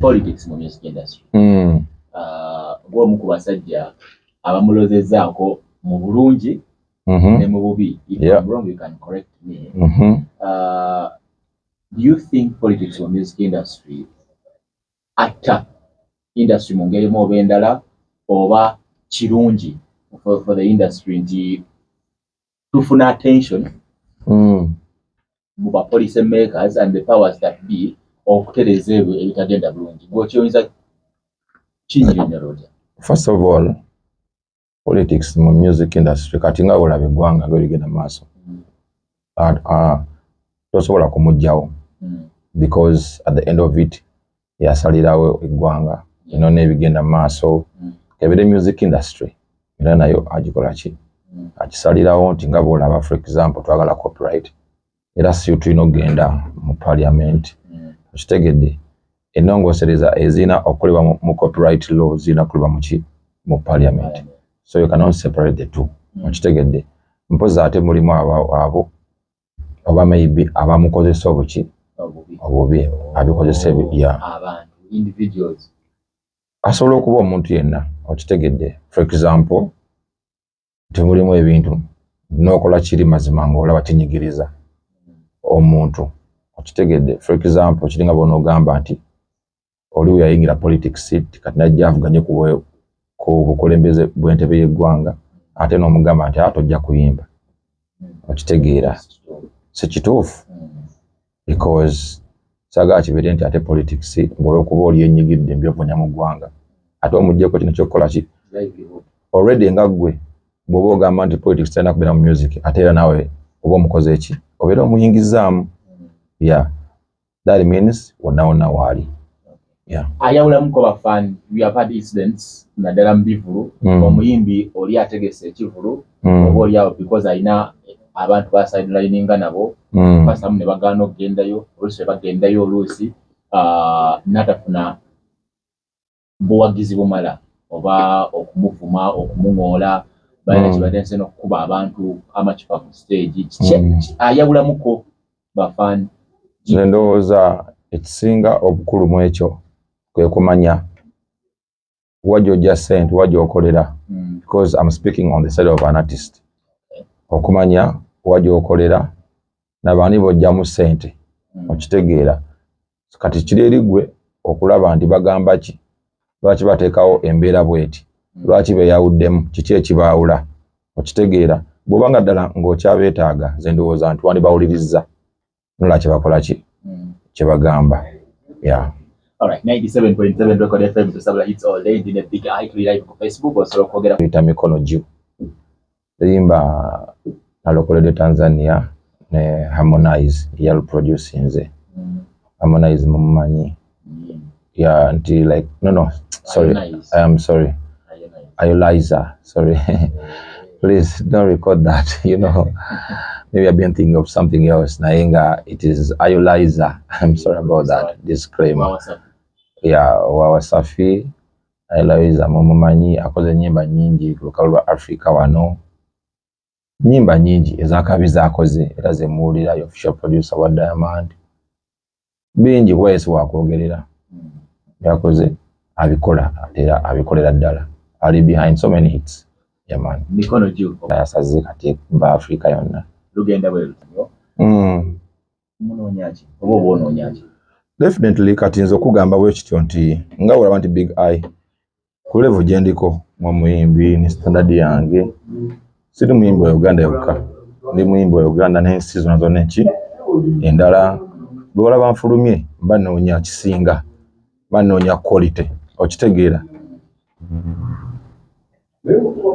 politics mu music industry mm. uh, ng'omu ku basajja abamulozezaako mu bulungi mm -hmm. ne mu bubi if yep. I'm wrong you can correct me mm -hmm. uh, do you think politics mu music industry atta industry mu ngeri mu oba endala oba kirungi for, for the industry nti tufuna attention mm. mu ba policy makers and the powers that be okutereza ebyo ebitagenda bulungi gwokyoyinza kinyonyololya first of all politics mu music industry kati nga olaba eggwanga nga oligenda mu maaso mm. uh, uh, tosobola kumugjawo mm. because at the end of it yasalirawo eggwanga ino n'ebigenda mu maaso ebire music industry era nayo agikola ki akisalirawo nti nga bwolaba for example twagala copyright era si tulina okugenda mu parliament okitegedde enongosereza ezirina okukolebwa mu copyright law zirina kukolebwa muki mu parliament so you cannot separate the two okitegedde mpozi ate mulimu abo oba maybe abamukozesa obuki obubi abikozesa ya asobola okuba omuntu yenna okitegedde for example nti mulimu ebintu n'okola kiri mazima ng'olaba kinyigiriza omuntu okitegedde for example kiringa bona ogamba nti oli weyayingira politics kati najja avuganye ku bukulembeze bw'entebe y'eggwanga ate n'omugamba nti ate ojja kuyimba okitegeera si kituufu because saagala kibeere nti ate politics ng'olwokuba oli enyigidde mbyovunya mu ggwanga ate omugyeko kino kyokukola ki already nga ggwe bw'oba ogamba nti politics terina kubeera mu music ate era naawe oba omukoze eki obeera omuyingizaamu ya yeah. that means wonawona waali ayawulamuko bafan weapad incidents naddala mu bivulu mm. omuyimbi oli ategese ekivulu mm. oba oliawo because alina abantu basidelininga nabo mm. basamu ne bagaana okugendayo oluusi ne bagendayo oluusi ah, natafuna buwagizi bumala oba okumuvuma okumuŋoola balina kibadde nse nokukuba abantu amacupa ku stage kiki ayawulamuko bafan nze ndowooza ekisinga obukulu mu ekyo kwe kumanya wa gyojja sente wa gyokolera hmm. because am speaking on the side of an artist okumanya wa gyokolera nabaani bojjamu sente hmm. okitegeera kati kiri eri gwe okulaba nti bagamba ki lwaki bateekawo embeera bweti hmm. lwaki beyawuddemu kiki ekibaawula okitegeera bwoba nga ddala ng'okyabeetaaga ze ndowooza nti wandibawulirizza nola kyebakola ki hmm. kyebagamba ya tuyita mikono gyo Luyimba nalokoledde Tanzania ne Harmonize yaluproducinze. Mm. Harmonize mumumanyi mm. ya nti like no no sorry I am sorry Ayoliza sorry please don't record that you know maybe I've been thinking of something else naye nga it is Ayoliza I'm sorry about that disclaimer ya wa Wasafi Eloiza mumumanyi akoze enyimba nyingi ku lukalu lwa Africa wano. Nyimba nyingi ezakabi zakoze era zemuwulira yo official producer wa Diamond. Bingi kuba yesi wakwogerera. Yakoze abikola era abikolera ddala. Ali behind so many hits. Yeah man. Mikono juu. Yasaze kati ba Africa yonna. Lugenda bwe lutyo. Mm. definitely kati nze okugamba bwekityo nti nga olaba nti big eye ku level gyendiko ng'omuyimbi ne standard yange siri muyimbi wa uganda yokka ndi muyimbi wa uganda n'ensi zona zona enki endala lwolaba nfulumye mba noonya kisinga mba noonya quality okitegeera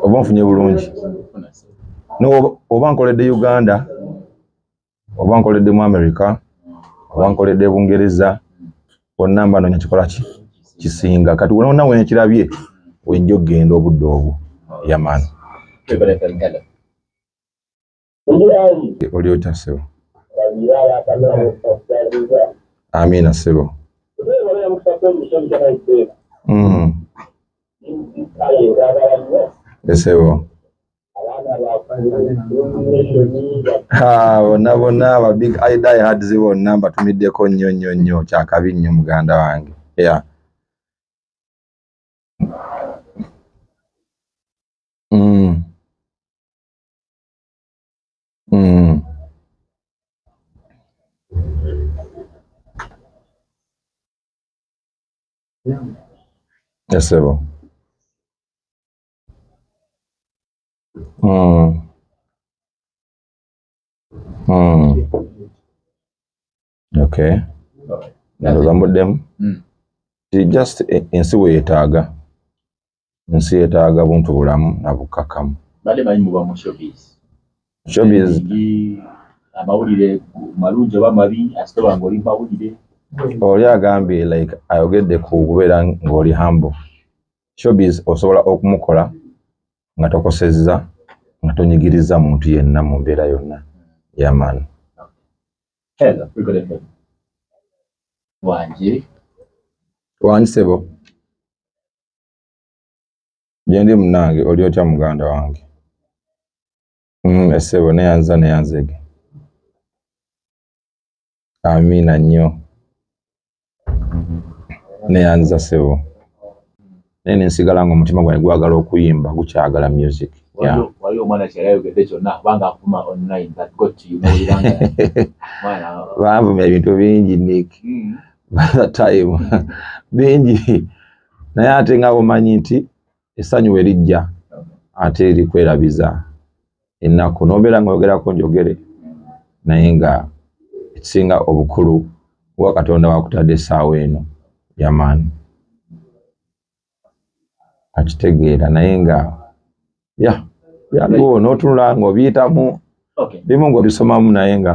oba nfunye bulungi oba nkoledde uganda oba nkoledde mu america oba nkoledde bungereza bonna mba nonya kikola ki kisinga kati wona wenkirabye wenja okugenda obudde obwo yamani oli otya sebo amiina sebo mm. esebo Ah, bonna bonna aba big eye die hards bonna mbatumiddeko nnyo nnyo nnyo kyakabi nnyo muganda wange yeah. Yes, sebo. Mm. Mm. Okay. Ndoza mudemu. Mm. Ti just e, ensi we yetaga. Ensi yetaga buntu bulamu na bukakamu. Bale bali mu bamu showbiz. Showbiz. Amawulire malungi oba mabi asite bango oli mawulire. Oli agambye like ayogedde ku kubeera ng'oli humble. showbiz osobola okumukola nga tokosezza nga tonyigiriza muntu yenna mu mbeera yonna yaman wangi sebo gyendi munange oli otya muganda wange mm, esebo neyanza neyanzege Amiina nnyo. Neyanziza ssebo naye nensigala nga omutima gwange gwagala okuyimba gukyagala music waliyo omwana kyeyali ayogedde kyonna kubanga akuma online that got you banvuma ebintu bingi nick hmm. by the time bingi naye ate nga omanyi nti essanyu we lijja ate likwerabiza ennaku n'obeera ng'oyogerako njogere naye nga ekisinga obukulu kuba katonda wakutadde essaawa eno yamaani akitegeera naye nga ya yaliwo n'otunula ng'obiyitamu bimu ng'obisomamu naye nga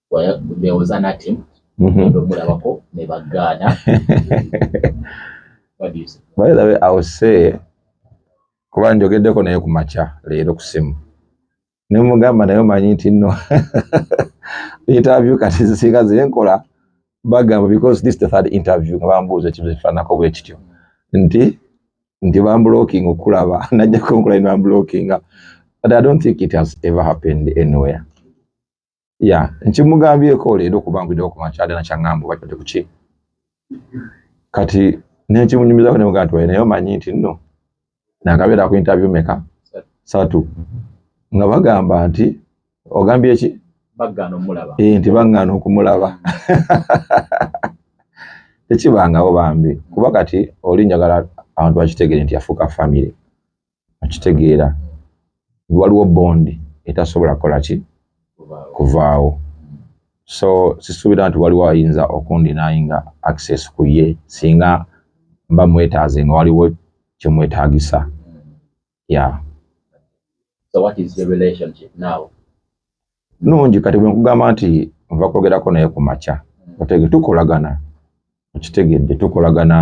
there was an attempt mm-hmm. omulabako ne bagaana by the way i will say kuba njogeddeko naye ku makya leero ku simu nemugamba naye omanyi nti no interview kati zisinga zenkola bagamba because this the third interview nga bambuuza ekibuzo ekifaanako bwe kityo nti nti bambuloking okulaba najja kunkola ne bambulokinga but i don't think it has ever happened anywhere ya nkimugambyeko leero kuba nkwiddewo ku makya dana kyaŋŋamba oba kyali kuki kati nenkimunyumizako nemugaa nti waye naye omanyi nti nno nakabeera ku interview meka satu nga bagamba nti ogambye ki eh, nti baŋŋaana okumulaba tekibangawo bambi kuba kati oli njagala abantu bakitegere nti yafuuka famire akitegeera nti waliwo bondi etasobola kukola ki kuvaawo so sisuubira nti waliwo ayinza okundinayinga access ku ye singa mba mwetaaze nga waliwo kyemwetaagisa ya so what is your relationship now nungi kati bwenkugamba nti nva kwogerako naye ku makya otege tukolagana okitegedde tukolagana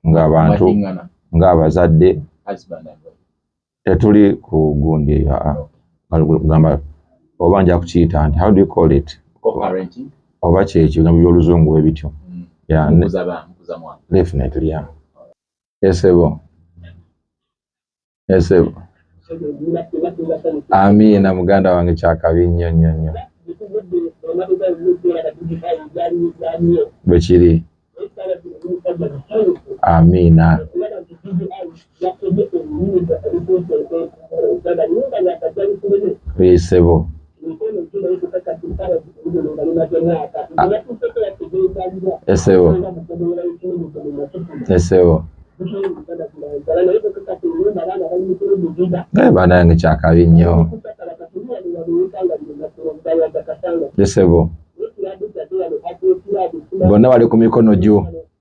ng'abantu ng'abazadde tetuli ku gundi eyo ah, ah. gamba oba nja kukiyita nti how do you call it oba kyekyo gambo byoluzungu we bityo mm. definitely ya esebo esebo amiina muganda wange kyakabi nnyo nnyo nnyo bwe kiri amiina esebo Esebo. Esebo. Eh, banange kyakabi nnyo. Esebo. Bonna bali ku mikono gyo.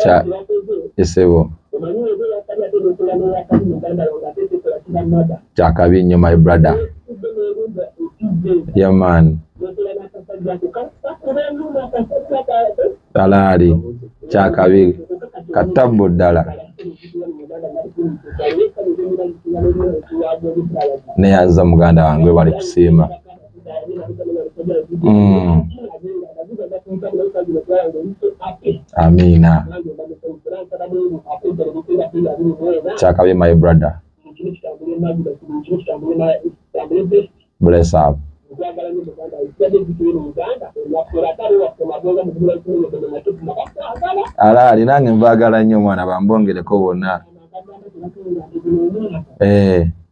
kya esebo kyakabi nnyo my brother yaman talaali kyakabi katabbu ddala neyanza muganda wange bali kusiima Mm. Amina. Chakabe my brother. Bless up. Ala alinange mbagala nnyo mwana bambongereko bonna. Eh.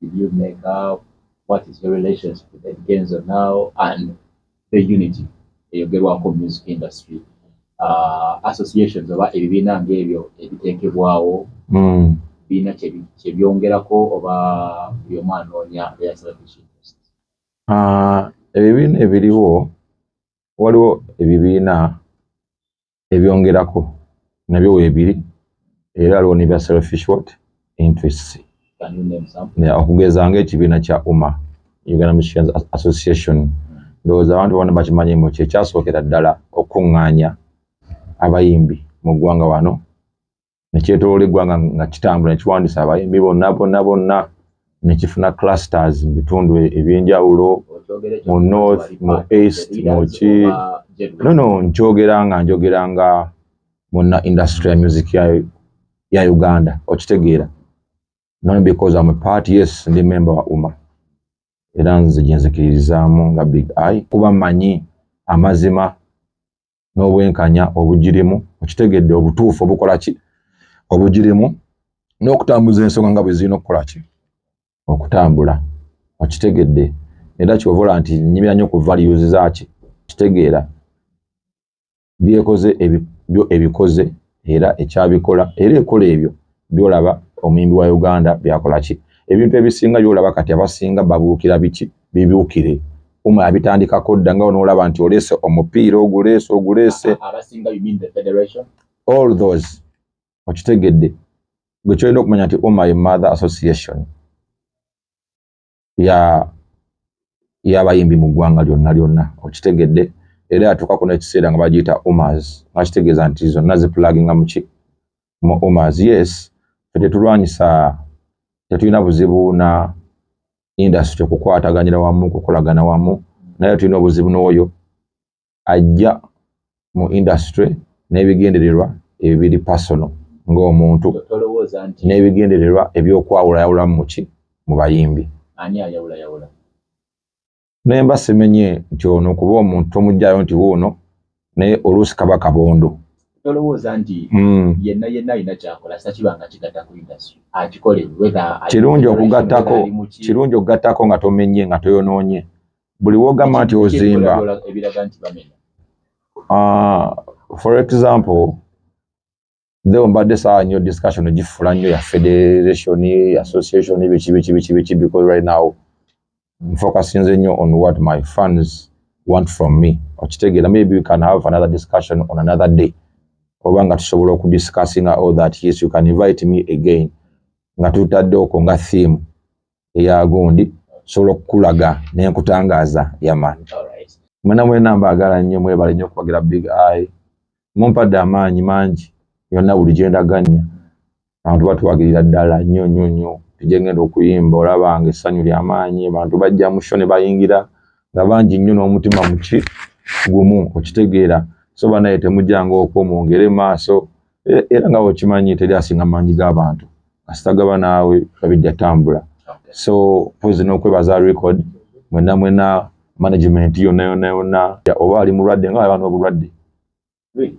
Did you make up? What is your relationship with Ed Kenzo now and the unity eyogerwako music industry uh, associations oba ebibiina ng'ebyo ebiteekebwawo mm. biina kyebyongerako oba buli omu anoonya uh, ebibiina ebiriwo waliwo ebibiina ebyongerako nabyo weebiri era aliwo ne bya selfish what interests okugeza ng'ekibiina kya uma uganda musicians association ndowooza abantu bona bakimanyi mu kyekyasookera ddala okukuŋŋaanya abayimbi mu ggwanga wano nekyetolola eggwanga nga kitambula nekiwandisa abayimbi bonna bonna bonna nekifuna clusters mu bitundu ebyenjawulo mu north mu east muki nono nkyogera nga njogera nga munna industry ya music ya uganda okitegeera not because am a part yes ndi member wa uma era nze gyenzikiririzaamu nga big eye kuba manyi amazima n'obwenkanya obugirimu okitegedde obutuufu obukola ki obugirimu n'okutambuza ensonga nga bwe zirina okukola ki okutambula okitegedde era kyovola nti nyimira nnyo ku values zaki kitegeera byekoze ebyo ebikoze era ekyabikola era ekola ebyo byolaba omuyimbi wa uganda byakola ki ebintu ebisinga byolaba kati abasinga babuukira biki bibuukire uma abitandikako dda nga onoolaba nti oleese omupiira oguleese oguleese all those okitegedde gwe kyolina okumanya nti uma ye mother association ya yabayimbi mu ggwanga lyonna lyonna okitegedde era yatuuka kuno ekiseera nga bagiyita omars nga kitegeeza nti zonna zipulaginga muki mu omars yes fe tetulwanyisa tetulina buzibu na industry okukwataganira wamu okukolagana wamu naye tulina obuzibu n'oyo ajja mu industry n'ebigendererwa ebibiri personal ng'omuntu n'ebigendererwa ebyokwawula yawulamu muki mu bayimbi naye mba simenye nti ono kuba omuntu tomugyayo nti wuuno naye oluusi kaba kabondo tolowooza nti hmm. yenna yenna alina kyakola sakiba nga kigatta ku industry akikole kirungi okugattako kirungi okugattako nga tomenye nga toyonoonye buli wogamba nti ozimba ah, for example nzeo mbadde saa nyo discussion gifula nyo ya federation association bikibikibikibiki because right now mfocusinze nyo on what my fans want from me okitegera maybe we can have another discussion on another day oba nga tusobola okudiscussinga all that yes you can invite me again nga tutadde okwo nga theme eya gundi sobola okukulaga nenkutangaaza yaman mwena mwena mbaagala nnyo mwebale nnyo okubagira big eye mumpadde amaanyi mangi yonna buli gyendaganya abantu batuwagirira ddala nnyo nnyo nnyo tujengenda okuyimba olaba nga essanyu lyamaanyi abantu bajja musho ne bayingira nga bangi nnyo n'omutima muki gumu okitegeera so banaye temujanga okwo mwongere maaso e, era nga okimanyi teri asinga mangi g'abantu asitagaba naawe babijja tambula so pozi n'okwebaza record mwena mwena management yonna yonna yonna oba ali mulwadde nga abantu obulwadde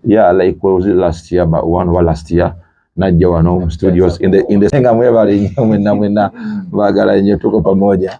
ya like was last year but one oba last year najja wano mu studios in the in the senga mwebale nnyo mwena mwena baagala nnyo tuko pamoja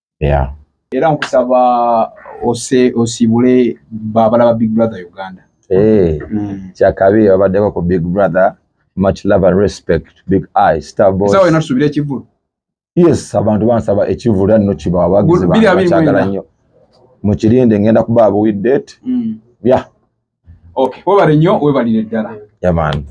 yeah. era nkusaba ose osibule babala ba big brother uganda hey, eh, mm. kyakabi babaddeko ku big brother much love and respect big eye star boss sawa inasubira ekivulu yes abantu bansaba ekivulu era nno kibawa bagizi bakyagala nnyo mukirinde ngenda kuba abuwidde ti mm. yeah. okay webale nnyo webalire ddala yamaani yeah,